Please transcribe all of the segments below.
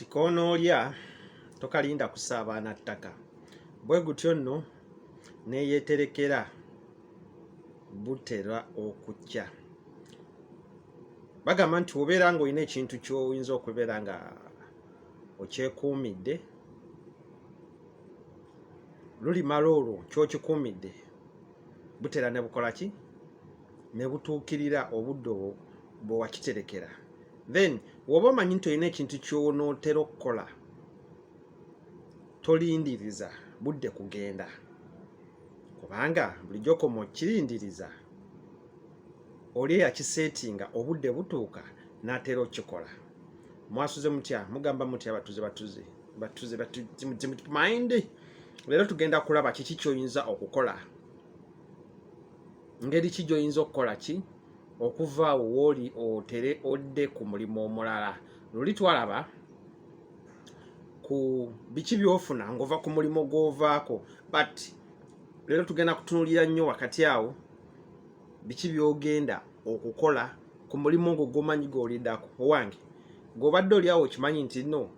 nti konoolya tokalinda kusaabaana ttaka bwe gutyo nno neyeterekera butera okukya bagamba nti obeera nga olina ekintu kyoyinza okubeera nga okyekuumidde lulimala olwo kyokikuumidde butera ne bukola ki ne butuukirira obudde obwo bwe wakiterekera then woba omanyi nti olina ekintu kyonootera okukola tolindiriza budde kugenda kubanga bulijjo koma okirindiriza oli eyakiseetinga obudde butuuka n'atera okikola mwasuze mutya mugamba mutya abatuze batuze batuze mind leero tugenda kulaba kiki kyoyinza okukola ngeri ki gyoyinza okukola ki okuva awo wooli otere odde ku mulimu omulala luli twalaba ku biki byofuna ng'ova ku mulimu gw'ovaako but leero tugenda kutunulira nnyo wakati awo biki byogenda okukola ku mulimu ogwo gwomanyi gwolidako owange gwobadde oli awo okimanyi nti no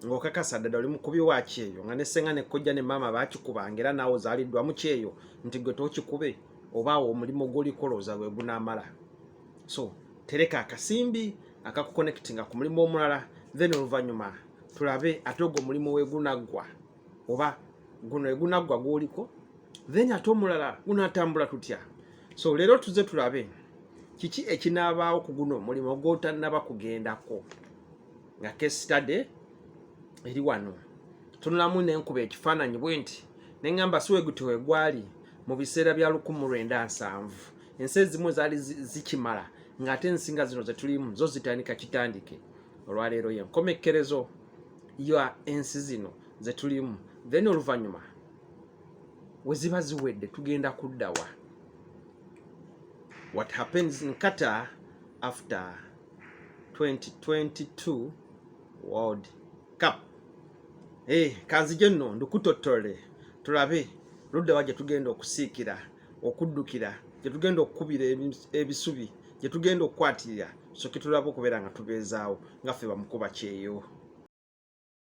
ng'okakasa ddala oli mukubi wa kyeyo nga nesenga nekojja ne maama bakikubanga era naawe ozaliddwamu kyeyo nti gwe tokikube oba omulimu gwolikola oza lwe gunamala so tereka akasimbi akakukonectinga ku mulimu omulala then oluvannyuma tulabe ate ogwo omulimu wegunaggwa oba guno egunaggwa gwoliko then ate omulala gunatambula tutya so leero tuze tulabe kiki ekinaabaawo ku guno omulimu gwotannaba kugendako nga case study eri wano tunulamu nenkuba ekifaananyi bwe nti neŋamba siweguti wegwali mu biseera bya lukumu lwenda nsanvu ensi ezimu zaali zikimala ng'ate ensinga zino zetulimu zo zitandika kitandike olwaleero yenkomekkerezo ya ensi zino zetulimu then oluvannyuma weziba ziwedde tugenda kuddawa what happens in qatar after 2022 World Cup. Hey, eh, kanzije nno ndukutotole tulabe ludda wa gye tugenda okusiikira okuddukira gye tugenda okukubira ebisubi gye tugenda okukwatirira soke tulaba okubeera nga tubeezaawo nga ffe bamukuba kyeyo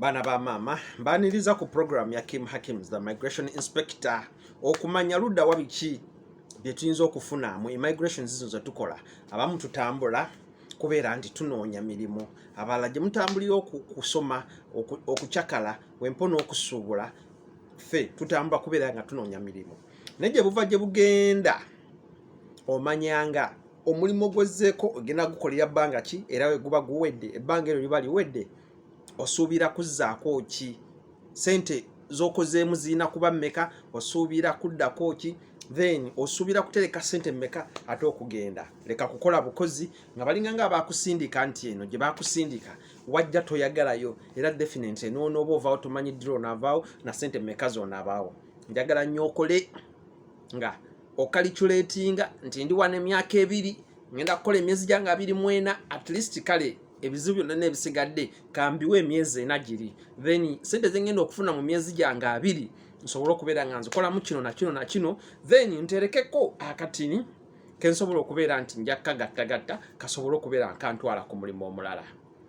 Bana ba mama mbaniriza ku program ya Kim Hakims the migration inspector okumanya ludda wabiki byetuyinza okufuna mu immigration zino zetukola abamu tutambula kubeera nti tunoonya mirimu abalala gye mutambulira okusoma okucakala wempo n'okusuubula ffe tutambula kubeera nga tunoonya mirimu naye gye buva gye bugenda omanyanga omulimu gwezzeeko ogenda gukolera bbanga ki era weguba guwedde ebbanga eryo liba liwedde osuubira kuzzaako ki sente zokozeemu zirina kuba mmeka osuubira kuddako ki then osuubira kutereka sente mmeka ate okugenda leka kukola bukozi nga balinga nga abakusindika nti eno gye bakusindika wajja toyagalayo era definitely noonooba ovaawo tomanyi dira onaavaawo na sente mmeka zonaabaawo njagala nnyo okole nga okaliculetinga nti ndi wano emyaka ebiri ngenda kukola emyezi gyange abiri mwena at least kale ebizibu byonna nebisigadde kambiwa emyezi ena giri then sente zengenda okufuna mu myezi gyange abiri nsobole okubeera nga nzikolamu kino nakino nakino then nterekeko akatini kensobola okubeera nti njakkagattagatta kasobole okubeera nkantwala ku mulimu omulala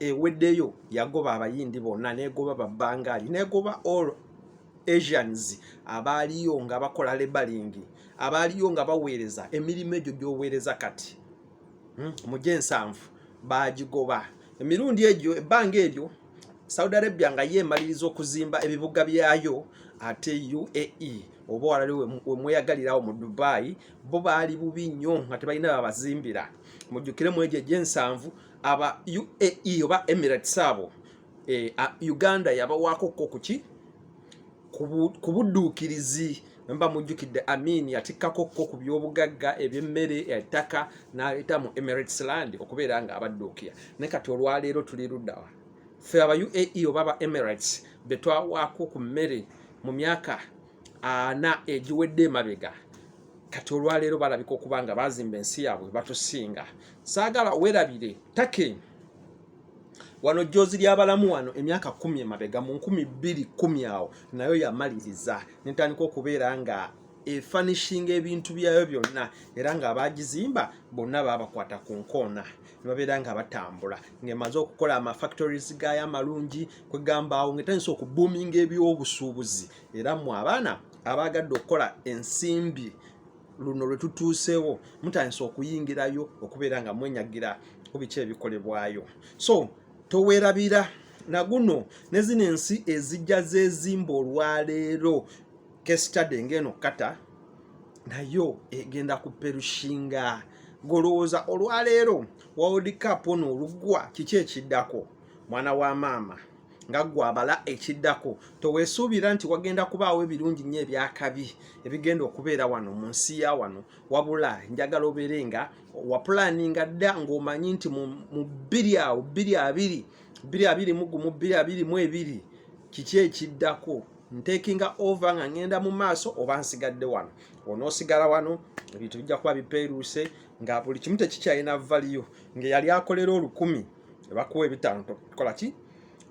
eweddeyo yagoba abayindi bonna negoba babangaali negoba all asians abaaliyo nga bakola lebalingi abaaliyo nga baweereza emirimu egyo gyoweereza kati hmm, mu gyensanvu baagigoba emirundi egyo ebbanga eryo saudi arabia nga ye emaliriza okuzimba ebibuga byayo ate uae oba walali wemweyagalirawo mu dubai bo baali bubi nnyo nga tebalina babazimbira mujjukiremu egyo egyensanvu aba UAE oba Emirates abo eh, Uganda yabawaako ko kuki ku budduukirizi mba mujjukidde Amin yatikkako ko ku byobugagga eby'emmere ettaka n'aleeta mu Emirates land okubeera nga abadduukira ne kati olwaleero tuli luddawa ffe aba UAE oba aba Emirates be twawaako ku mmere mu myaka ana egiwedde emabega kati olwaleero balabika okuba nga bazimba ensi yaabwe batusinga saagala werabire take wano joozi lyabalamu wano emyaka kumi emabega mu nkumi bbiri kumi awo nayo yamaliriza netandika okubeera nga efanishinga ebintu byayo byonna era nga abagizimba bonna babakwata ku nkoona nebabeera nga batambula ngaemaze okukola amafactories gayo amalungi kwegambaawo ngaetandisa okubuminga ebyobusuubuzi era mwe abaana abaagadde okukola ensimbi luno lwe tutuuseewo mutandisa okuyingirayo okubeera nga mwenyagira ku biki ebikolebwayo so towerabira naguno ne zino ensi ezijja zezimba olwaleero kesitade ng'eno kata nayo egenda ku perushinga golowooza olwaleero world cup ono olugwa kiki ekiddako mwana wa maama nga ggwe abala ekiddako teweesuubira nti wagenda kubaawo ebirungi nnyo ebyakabi ebigenda okubeera wano mu nsi ya wano wabula njagala obeere nga wapulaninga dda ng'omanyi nti mu bbiri awo bbiri abiri bbiri abiri mu gumu bbiri abiri mu ebiri kiki ekiddako ntekinga ova nga ngenda mu maaso oba nsigadde wano onoosigala wano ebintu bijja kuba bipeeruuse nga buli kimu tekikyalina valiyo ngaeyali akolera olukumi ebakuwa ebitaano tokola ki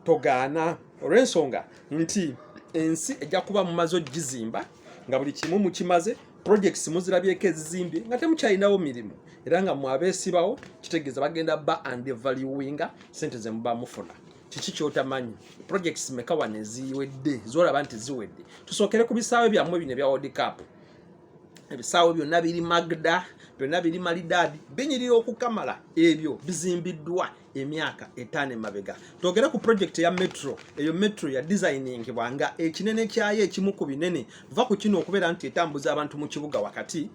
togaana olw'ensonga nti ensi ejja kuba mumaze ogizimba nga buli kimu mukimaze projects muzirabyeko ezizimbye nga temukyalinawo mirimu era nga mwabeesibawo kitegeeza bagenda ba and valuinga sente zemuba mufuna kiki kyotamanyi projects mekawa neziwedde zolaba nti ziwedde tusookere ku bisaawe byammwe bino ebya world cup ebisaawe byonna biri magda byonna biri malidaadi binyirira okukamala ebyo bizimbiddwa emyaka etaano emabega twogere ku projekiti ya metro eyo metro ya designingibwa nga ekinene kyayo ekimu ku binene va ku kino okubeera nti etambuza abantu mu kibuga wakati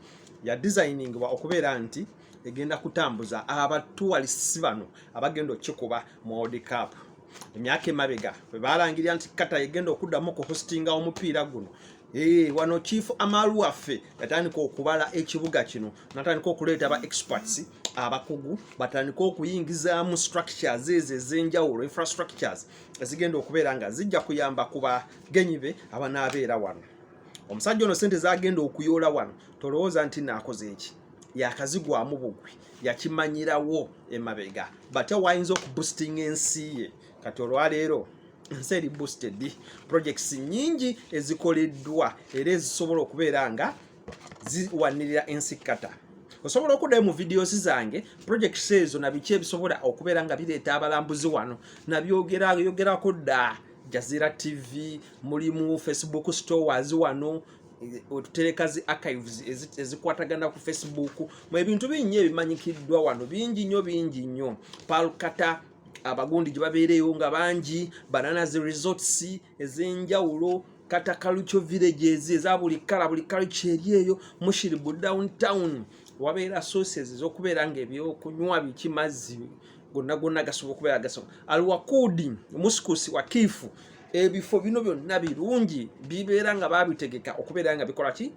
ya designingibwa okubeera nti egenda kutambuza abatuwalisi bano abagenda okukikuba mu world cup emyaka emabega bwe baalangirira nti kata egenda okuddamu ku hostinga omupiira guno Ee, eh, wano chief amalu waffe yatandika okubala ekibuga kino natandika okuleeta ba experts abakugu batandika okuyingizaamu structures ezo ez'enjawulo infrastructures ezigenda okubeera nga zijja kuyamba ku bagenyi be abanaabeera wano omusajja ono sente zagenda okuyoola wano tolowooza nti naakoze eki yakazigwamu bugwi yakimanyirawo emabega batya wayinza okubusitinga ensi ye kati olwaleero ensi eri boosted projects nyingi ezikoleddwa era ezisobola okubeera nga ziwanirira ensi kata osobola okuddayo mu videos zange projects ezo nabiki ebisobola okubeera nga bireeta abalambuzi wano nabyogerako dda jazira tv mulimu facebook stores wano otutereka zi archives ezikwatagana ku facebook mu ebintu bingi ebimanyikiddwa wano bingi nnyo bingi nnyo palkata abagundi gye babeereyo nga bangi bananazi resorts ez'enjawulo kata kaluco villages eza buli kala buli kaluco eri eyo mushiribu downtown wabeera sources ez'okubeera nga ebyokunywa biki mazzi gonna gonna gasobola okubeera gasobola alwakuudi muskusi wakiifu ebifo bino byonna birungi bibeera nga babitegeka okubeera nga bikola ki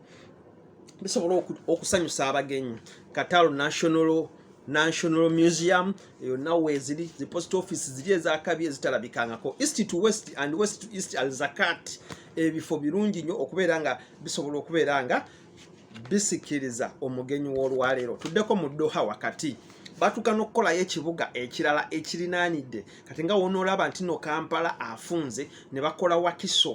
bisobola okusanyusa abagenyi katalo national national museum eyo nawe eziri the post office ziri ezakabi ezitalabikangako east to west and west to east al zakat ebifo birungi nnyo okubeera nga bisobola okubeera nga bisikiriza omugenyi w'olwaleero tuddeko mu ddoha wakati batuuka n'okukolayo ekibuga ekirala ekirinaanidde kati nga wonoolaba nti no kampala afunze ne bakola wakiso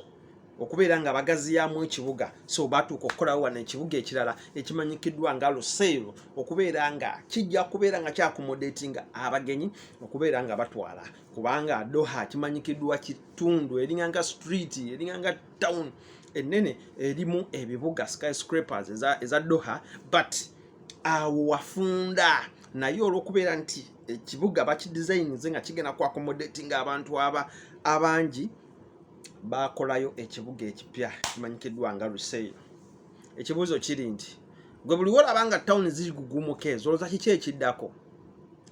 okubeera nga bagaziyamu ekibuga so batuuka okukolawo wano ekibuga ekirala ekimanyikiddwa nga luseero okubeera nga kijja kubeera nga kyakomodeeti nga abagenyi okubeera nga batwala kubanga doha kimanyikiddwa kitundu eringanga street eringanga town enene erimu ebibuga skyscrapers eza, eza doha but awo wafunda naye olwokubeera nti ekibuga bakidesignze nga kigenda ku accommodating abantu aba abangi bakolayo ekibuga ekipya kimanyikiddwa nga ruseyo ekibuuzo kiri nti gwe buli wolaba nga town zigugumuka ezo olwoza kiki ekiddako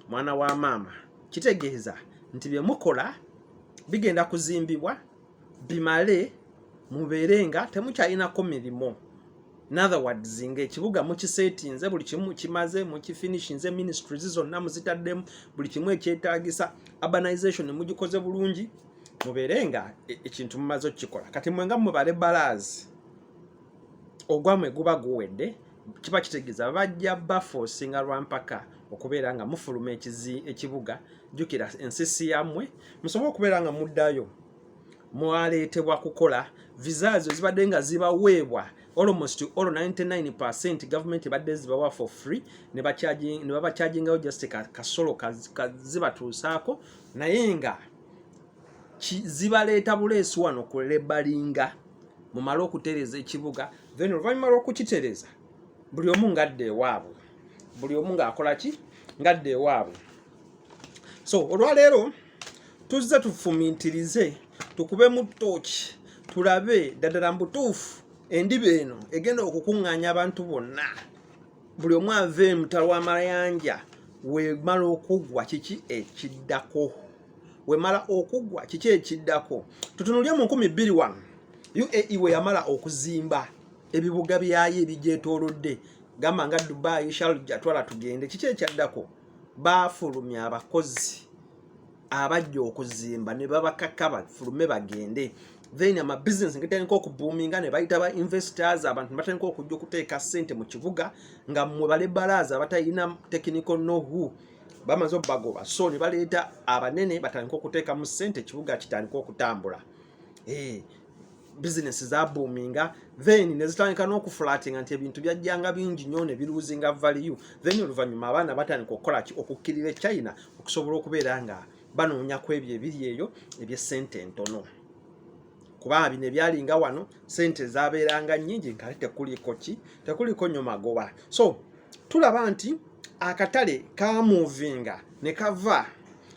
mwana wa maama kitegeeza nti byemukola bigenda kuzimbibwa bimale mubeere nga temukyalinako mirimo nather words nga ekibuga mukisetinze buli kimu kimaze mukifinishinze ministries zonna muzitaddemu buli kimu ekyetagisa urbanization mugikoze bulungi mubeere nga e-, ekintu mumaze okukikola kati mwenga mubale balaazi ogwamwe guba guwedde kiba kitegeeza bajja bafosinga lwampaka okubeera nga mufuluma ekibuga jjukira ensisi yammwe musobole okubeera nga muddayo mwaleetebwa kukola visa ezo zibadde nga zibaweebwa almost all 99 gavumenti ebadde zibawa for free ne babakyagingayo just kasolo zibatuusaako naye nga zibaleeta buleesi wano ku lebalinga mumale okutereeza ekibuga then oluvannyuma lw'okukitereeza buli omu ngadde ewaabwe buli omu ng'akola ki ngadde ewaabwe so olwaleero tuzze tufumintirize tukube mu tooki tulabe ddadala mu butuufu endiba eno egenda okukuŋŋaanya abantu bonna buli omu ava emutalo amayanja wemala okugwa kiki ekiddako wemala okugwa kiki ekiddako tutunulye mu nkumi bbiri wano uae weyamala okuzimba ebibuga byayo ebigyetolodde gamba nga dubai sharja twala tugende kiki ekyaddako baafulumya abakozi abajja okuzimba ne babakaka bafulume bagende then amabisinesi ngetandika okubuuminga ne bayita ba investors abantu nebatandika okujja okuteeka ssente mu kibuga nga mwe balebalaaza abatalina technical know who bamaze obagoba so ne baleeta abanene batandika okuteekamu ssente ekibuga kitandika okutambula eh, bizinesi zabuuminga then nezitandika n'okufulatinga nti ebintu byajjanga bingi nnyo ne biruuzinga valiyu then oluvannyuma abaana batandika okukola ki okukkirira e china okusobola okubeera nga banoonya ku ebyo ebiri eyo ebyessente entono kuba bino ebyalinga wano sente zabeeranga nyingi nkale tekuliko ki tekuliko nyo magoba so tulaba nti akatale kamuvinga ne kava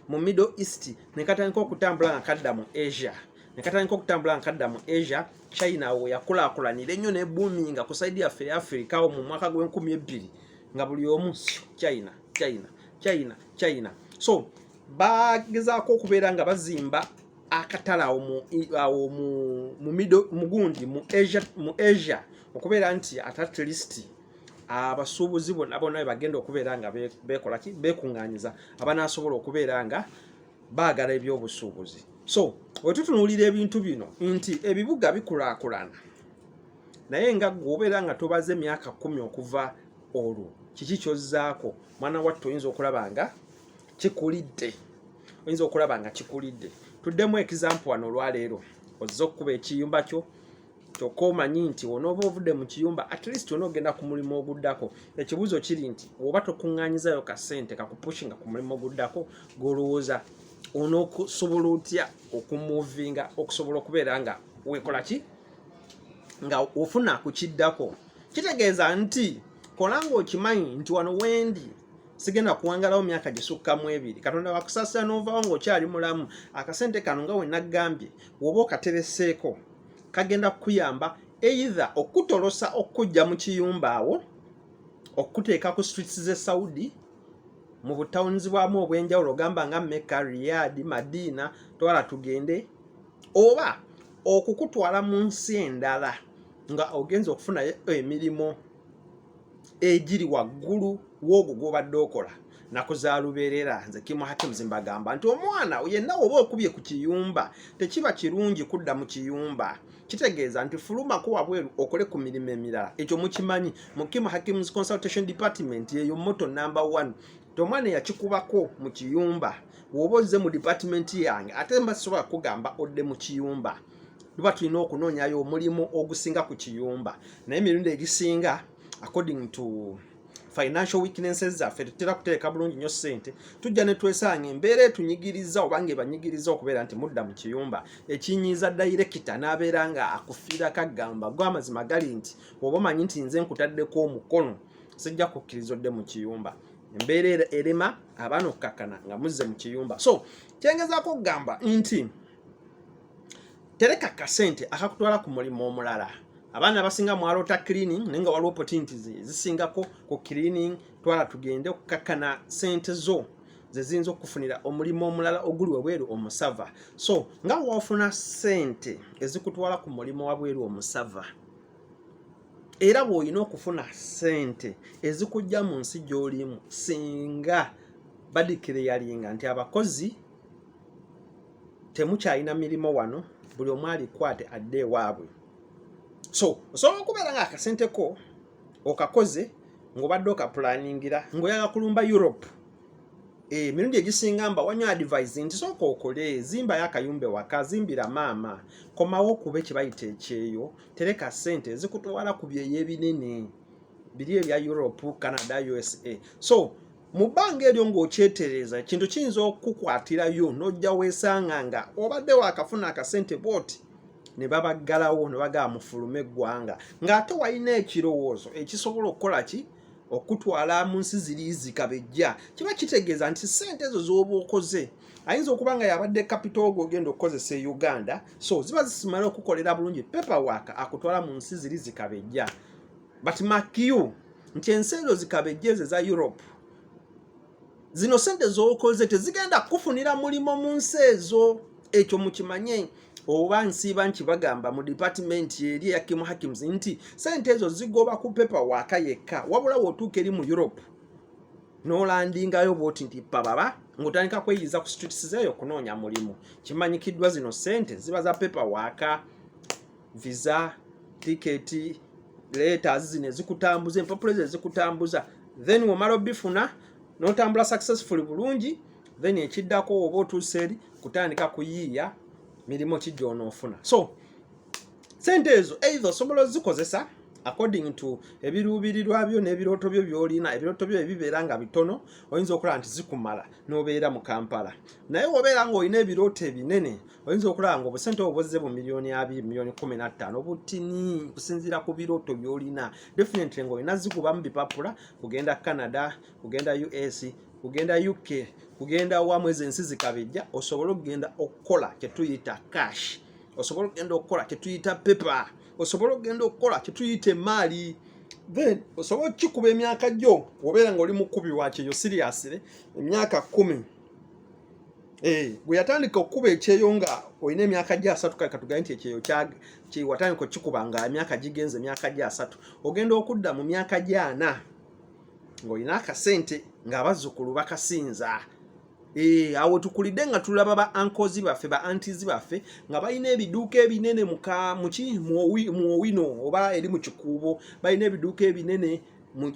mu middle east ne katandika okutambula nga kadda mu asia ne katandika okutambula nga kadda mu asia china awo yakulakulanira ennyo nebuminga ku saidi yaffe eya africa wo mu mwaka gw'enkumi ebbiri nga buli omu china china china china so bagezaako okubeera nga bazimba akatala awo mu awo mu mu middle mugundi mu Asia mu Asia okubeera nti at at least abasuubuzi bona bona bagenda okubeera nga bekola ki bekunganyiza abanasobola okubeera nga baagala ebyobusuubuzi so wetutunuulira ebintu bino nti ebibuga bikulakulana naye nga gwe obeera nga tobaze emyaka kumi okuva olwo kiki kyozzaako mwana wattu oyinza okulaba nga kikulidde oyinza okulaba nga kikulidde tuddemu ekizampu wano olwaleero ozze okukuba ekiyumba kyo kyokka omanyi nti onooba ovudde mu kiyumba at least ona ogenda ku mulimu oguddako ekibuuzo kiri nti oba tokuŋŋanyizayo ka ssente kakupushinga ku mulimu oguddako gwolowooza onookusobola otya okumuvinga okusobola okubeera nga wekola ki nga ofuna ku kiddako kitegeeza nti kola nga okimanyi nti wano wendi sigenda kuwangalawo myaka gisukka mu ebiri katonda wakusasira n'ovawo ng'okyali mulamu akasente kano nga wenagambye woba okatereseeko kagenda kukuyamba either okutolosa okukujja mu kiyumba awo okukuteeka ku streets ze saudi mu butawunizi bwamu obw'enjawulo ogamba nga meka riyadi madiina twala tugende oba okukutwala mu nsi endala nga ogenza okufunayo emirimu egiri waggulu w'ogwo gw'obadde okola nakuzaluberera nze kimu hakimu zimbagamba nti omwana yenna oba okubye ku kiyumba tekiba kirungi kudda mu kiyumba kitegeeza nti fulumako wabweru okole ku mirimu emirala ekyo mukimanyi mu kimu hakim's consultation department yeyo moto number one ti omwana eyakikubako mu kiyumba woba ozze mu department yange ate mba sisobola kugamba odde mu kiyumba luba tulina okunoonyayo omulimu ogusinga ku kiyumba naye emirundi egisinga according to financial weaknesses zaffe tetera kuteeka bulungi nnyo ssente tujja ne twesanga embeera etunyigiriza oba nga ebanyigiriza okubeera nti mudda mu kiyumba ekinyiiza dayirekita n'abeera nga akufiira kagamba gwe amazima gali nti oba omanyi nti nze nkutaddeko omukono sijja kukkiriza odde mu kiyumba embeera erema abaana okukakkana nga muzze mu kiyumba so kyengezaako okugamba nti tereka kasente akakutwala ku mulimu omulala abaana basinga mwaloota cleaning naye nga waliwo opportunities zisingako ku cleaning twala tugende okukakkana sente zo zeziyinza okufunira omulimu omulala oguli wabweru omusava so nga wafuna sente ezikutwala ku mulimu wabweru omusava era bwolina okufuna sente ezikujja mu nsi gyolimu singa badikire yalinga nti abakozi temukyalina mirimu wano buli omu alikwate adde ewaabwe so osobola okubeera nga akasente ko okakoze ng'obadde okapulaningira ng'oyala kulumba europe eh, emirundi egisinga mba wanyo advise nti sooka okole zimbayo akayumba ewaka zimbira maama komawo okube kyebayita ekyeyo tereka sente ezikutwala ku byeyo ebinene biri ebya europe canada usa so mu bbanga eryo ng'okyetereeza ekintu kiyinza okukukwatirayo n'ojja weesanga nga obadde waakafuna akasente bwoti ne babaggalawo ne bagaa mufulume eggwanga ng'ate walina ekirowoozo ekisobola okukola ki okutwala mu nsi ziri zikabejja kiba kitegeeza nti ssente ezo z'oba okoze ayinza okuba nga yabadde kapito ogwo ogenda okukozesa e uganda so ziba zisimala okukolera bulungi pepa waaka akutwala mu nsi ziri zikabejja but makiyu nti ensi ezo zikabejjeeze za europe zino sente zokoze tezigenda kukufunira mulimu mu nsi ezo ekyo mukimanye oba nsiiba nti bagamba mu dipatimenti eri eya kimu hakims nti sente ezo zigoba ku pepa waaka yekka wabula wotuuka eri mu europe nolandingayo bwoti nti pababa ngotandika kweyiza ku streets zeeyo okunoonya mulimu kimanyikiddwa zino sente ziba za pepa waaka visa tiketi letters zino ezikutambuza empapula ezo ezikutambuza then womala obifuna notambula successfully bulungi then ekiddako oba otuuse eri kutandika kuyiiya mirimu ki gyonoofuna so sente ezo eitha osobola ozikozesa according to ebiruubirirwa byo n'ebirooto byo byolina ebirooto byo ebibeera nga bitono oyinza okulaba nti zikumala n'obeera mu kampala naye wobeera ng'olina ebirooto ebinene oyinza okulaba nga obusente obwo buzze bu miliyoni abiri miliyoni kumi na ttaano butini kusinziira ku birooto byolina definitely nga olina zikubamu bipapula kugenda canada kugenda us kugenda uk kugenda wamu ezo ensi zikabijja osobole okugenda okukola kyetuyita cash osobole okugenda okukola kyetuyita pepa osobole okugenda okukola kyetuyita emaali then osobola okukikuba emyaka gyo obeera nga oli mukubi wakyeyo siriyasire emyaka kumi Eh, gwe yatandika okukuba ekyeyo nga olina emyaka gya asatu kale katugaye nti ekyeyo watandika okikuba nga emyaka gigenze emyaka gya asatu ogenda okudda mu myaka gyana ng'olina akasente ng'abazzukulu bakasinza eh, awo tukulidde nga tulaba ba ankozi baffe ba antizi baffe nga balina ebiduuka ebinene muki muowino oba eri mu kikuubo balina ebiduuka ebinene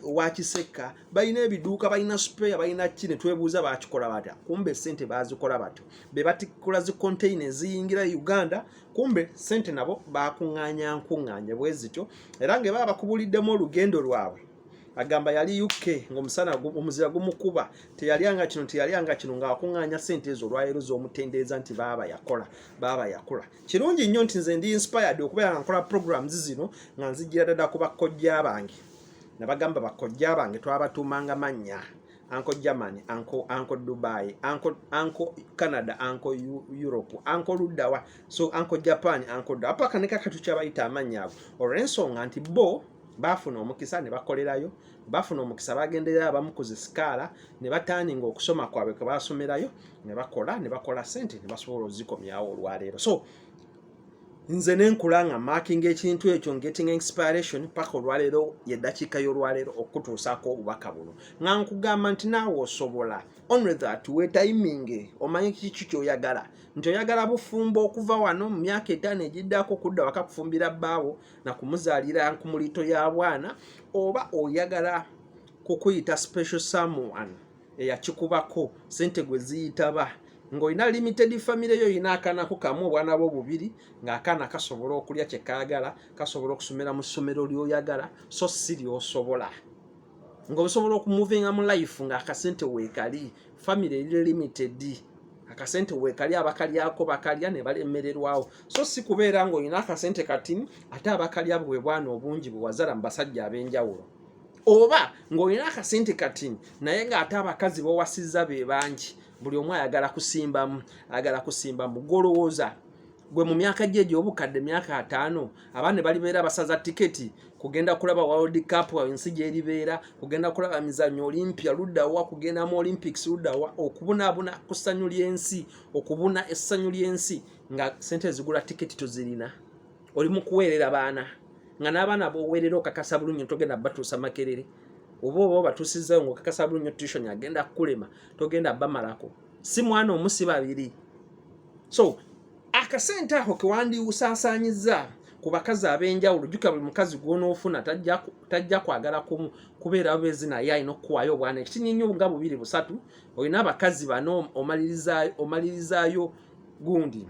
owakisekka balina ebiduuka balina spare balina ki ne twebuuza bakikola batya kumbe sente bazikola batyo be batikula zi container eziyingira e uganda kumbe sente nabo bakuŋŋaanya nkuŋŋaanye bwe zityo era nga baba bakubuliddemu olugendo lwabwe agamba yali uk ngaomusana omuzira gumukuba teyalyanga kino teyalyanga kino ngaakuŋŋaanya sente ezo olwaleero z'omutendereza nti baaba yakola baaba yakula kirungi nnyo nti nze ndi inspired okubeera nga nkola programs zino nga nzijjira dada ku bakkojja bange nabagamba bakojja bange twabatuumanga mannya anko germany anko anko dubai anko anko canada anko europe anko luddawa so anko japan anko ddawa paka ne kakati kyabayita amannya ago olw'ensonga nti bo baafuna omukisa ne bakolerayo baafuna omukisa bagenderera abamu ku zisikaala ne batandinga okusoma kwabwe kwe basomerayo ne bakola ne bakola sente ne basobola ozikomyawo olwaleero so nze nenkula nga marking ekintu ekyo getting inspiration paka olwaleero yedakiika yolwaleero okutuusaako obubaka buno nga nkugamba nti naawe osobola only that wetayiminge omanye kiki kyoyagala nti oyagala bufumbo okuva wano mu myaka etaano egiddako okudda waka kufumbira bbaawo na kumuzaalira nkumulito ya bwana oba oyagala kukuyita special someone eyakikubako sente gwe ziyitaba ng'olina limited famire yo olina akaana ko kamu obwana bwo bubiri ng'akaana kasobola okulya kye kaagala kasobola okusomera mu ssomero ly'oyagala so si ly'osobola ng'osobola okumuvinga mu life ng'akasente weekali famire eri limited akasente wekali abakalyako bakalya ne balemererwawo so si kubeera ng'olina akasente katini ate abakalya bwe bwana obungi bwe wazala mu basajja ab'enjawulo oba ng'olina akasente kati naye ng'ate abakazi bawasizza be bangi buli omu ayagala kusimbamu ayagala kusimbamu golowooza gwe mu myaka gye egy'obukadde myaka ataano abaana balibeera basaza tiketi kugenda kulaba world cup ensi gyeribeera kugenda kulaba mizanyo olimpia luddawa kugenda mu olympics luddawa okubunabuna ku ssanyu ly'ensi okubuna essanyu ly'ensi nga sente ezigula tiketi tuzirina oli mu kuweerera baana nga n'abaana boweerera okakasa bulungi togenda batuusa makerere oba oba obatuusizzayo nga okakasa bulungi tution agenda kukulema togenda bamalako si mwana omu si babiri so akasente ako kewandiwusaasaanyizza ku bakazi ab'enjawulo jjuka buli mukazi gwonoofuna tajja kwagala kumu kubeera bezi naye alina okukuwaayo obwana ekitinye nnyo nga bubiri busatu olina abakazi bano omalirizaayo gundi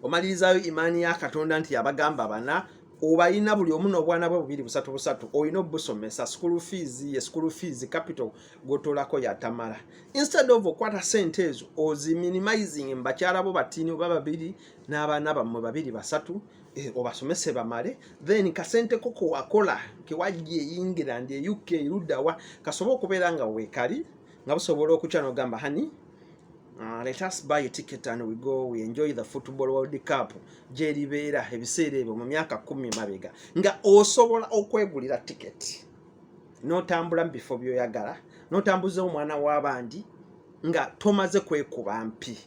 omalirizaayo imaani ya katonda nti yabagamba bana obalina buli omu n'obwana bwe bubiri busatu busatu olina obusomesa school fees ye school fees capital gotolako yatamala instead of okwata sente ezo ozi minimizing mbakyala bo batini oba babiri n'abaana bammwe babiri basatu eh, obasomese bamale then kasente ko kewakola kewajja eyingira ndi e uk eruddawa kasobe okubeera nga weekali nga busobola okukya nogamba hani Uh, let us buy a ticket and we go we enjoy the football world cup gyeribeera ebiseera ebyo mu myaka kumi mabega nga osobola okwegulira ticket notambula mu bifo byoyagala notambuza omwana w'abandi nga tomaze kwekuba mpi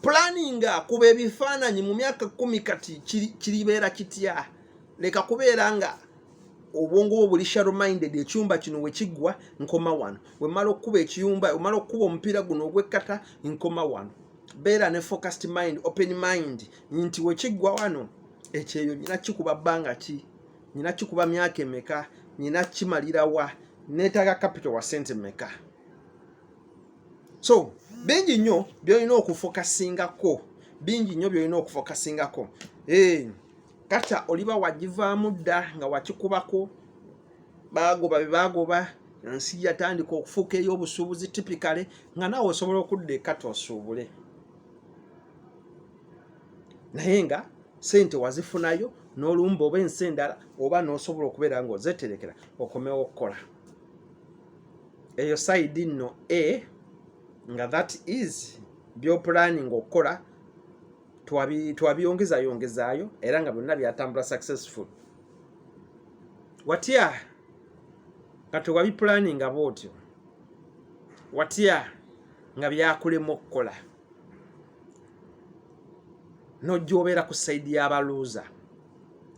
pulaninga kuba ebifaananyi mu myaka kumi kati kiribeera kitya leka kubeera nga obwongo bwo buli shallow minded ekyumba kino wekiggwa nkoma wano wemala okukuba ekiyumba wemala okukuba omupiira guno ogwekkata nkoma wano beera ne focused mind open mind nti wekiggwa wano ekyeyo nyina kikuba bbanga ki nyina kikuba myaka emeka nyina kimalirawa neetaaga capital wa sente meka so bingi nnyo byolina okufokasingako bingi nnyo byolina okufokasingako hey. Eh, kata oliba wagivaamu dda nga wakikubako baagoba be baagoba ensi yatandika okufuuka ey'obusuubuzi tipikale nga naawe osobola okudda ekata osuubule naye nga sente wazifunayo n'olumba oba ensi endala oba n'osobola okubeera nga ozeterekera okomewo okukola eyo saidi nno a nga that is byopulaninga okukola twabiyongeza yongezaayo era nga byonna byatambula successful watya nga tewabipulaninga bwotyo watya nga byakulemu okukola nojja obeera ku saidi yabaluuza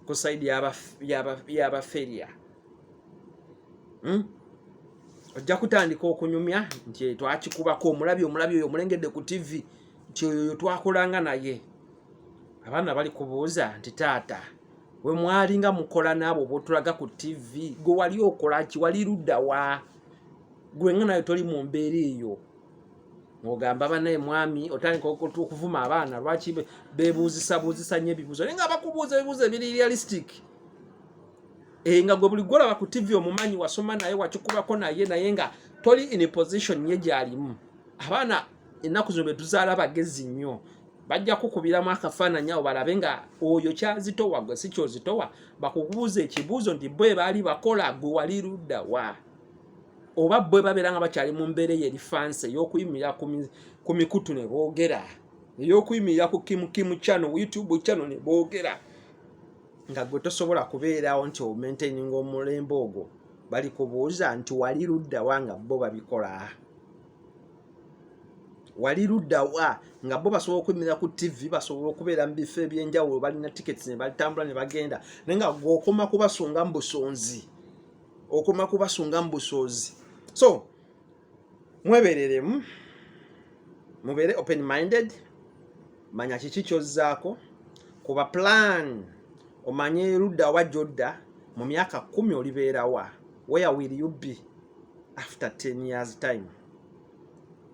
ku saidi yabaferia hmm? ojja kutandika okunyumya nti twakikubako omulabi omulabi oyo omulengedde ku tivi nti oyoyo twakolanga naye abaana bali kubuuza nti taata we mwali nga mukola naabo botulaga ku tv gwe wali okolaki wali luddawa gwe nga nayo toli mu mbeera eyo ng'ogamba banaye mwami otandika okuvuma abaana lwaki bebuuzisa buuzisa nyo ebibuuzo naye nga bakubuuza ebibuuzo ebiri realistic Eh, nga gwe buli gwolaba ku tv omumanyi wasoma naye wakikubako naye naye nga toli in position ye gyalimu abaana ennaku zino betuzaala bagezi nnyo bajja kukubiramu akafaananyi awo balabe nga oyo kyazitowa gwe si kyozitowa bakubuuza ekibuuzo nti bwe baali bakola gwe wali ludda wa oba bwe babeera nga bakyali mu mbeera eyo eri fansi ey'okuyimirira ku mikutu ne boogera ey'okuyimirira ku kimukimu kyano youtube kyano ne boogera nga gwe tosobola kubeerawo nti omaintaininga omulembe ogwo balikubuuza nti wali ludda wa nga bo babikola wali luddawa nga bo basobola okuyimirira ku tv basobola okubeera mu bifo ebyenjawulo balina tickets ne balitambula ne bagenda naye nga gweokoma kubasunga mu busonzi okoma kubasunga mu busoozi so mwebereremu mubeere open minded manya kiki kyozzaako kuba plan omanye erudda wa gyodda mu myaka kumi olibeerawa where will you be after 10 years time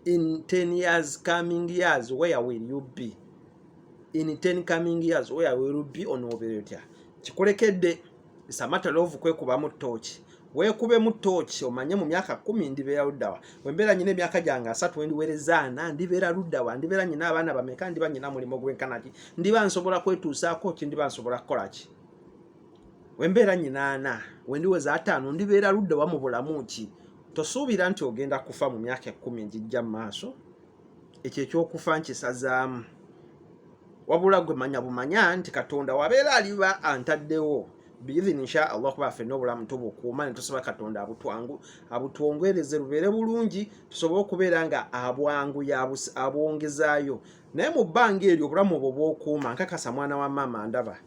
in 10 years coming years where will you be in 10 coming years where will you be onobeera otya kikulekedde it's a matter of kwekubamu tooki weekubemu tooki omanye mu myaka kumi ndibeera luddawa wembeera nyina emyaka gyange asatu wendiwerezaana ndibeera luddawa ndibeera nyina abaana bameka ndiba nyina mulimu gwenkanaki ndiba nsobola kwetuusaako ki ndiba nsobola kukolaki wembeera nyinaana wendiweza ataano ndibeera ludde wa mu bulamu ki tosuubira nti ogenda kufa mu myaka ekkumi egijja mu maaso ekyo ekyokufa nkisazaamu wabula gwe manya bumanya nti katonda wabeera aliba antaddewo biidhini insha allah kuba fenna obulamu tubukuuma ne tusaba katonda abutwangu abutwongwereze lubeere bulungi tusobole okubeera nga abwangu abwongezaayo naye mu bbanga eryo obulamu obwo bwokuuma nkakasa mwana wa maama ndaba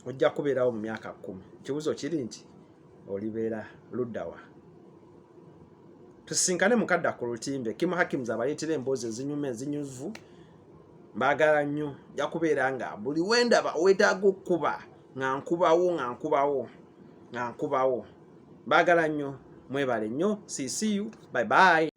ojja kubeerawo mu myaka kkumi ekibuzo kiri nti olibeera luddawa tusinkane mukadda ku lutimbe kimu hakims abaleetera emboozi ezinyuma ezinyuvu mbaagala nnyo nja kubeera nga buli wendaba owetaaga okukuba nga nkubawo nga nkubawo nga nkubawo mbaagala nnyo mwebale nnyo ccu bye bye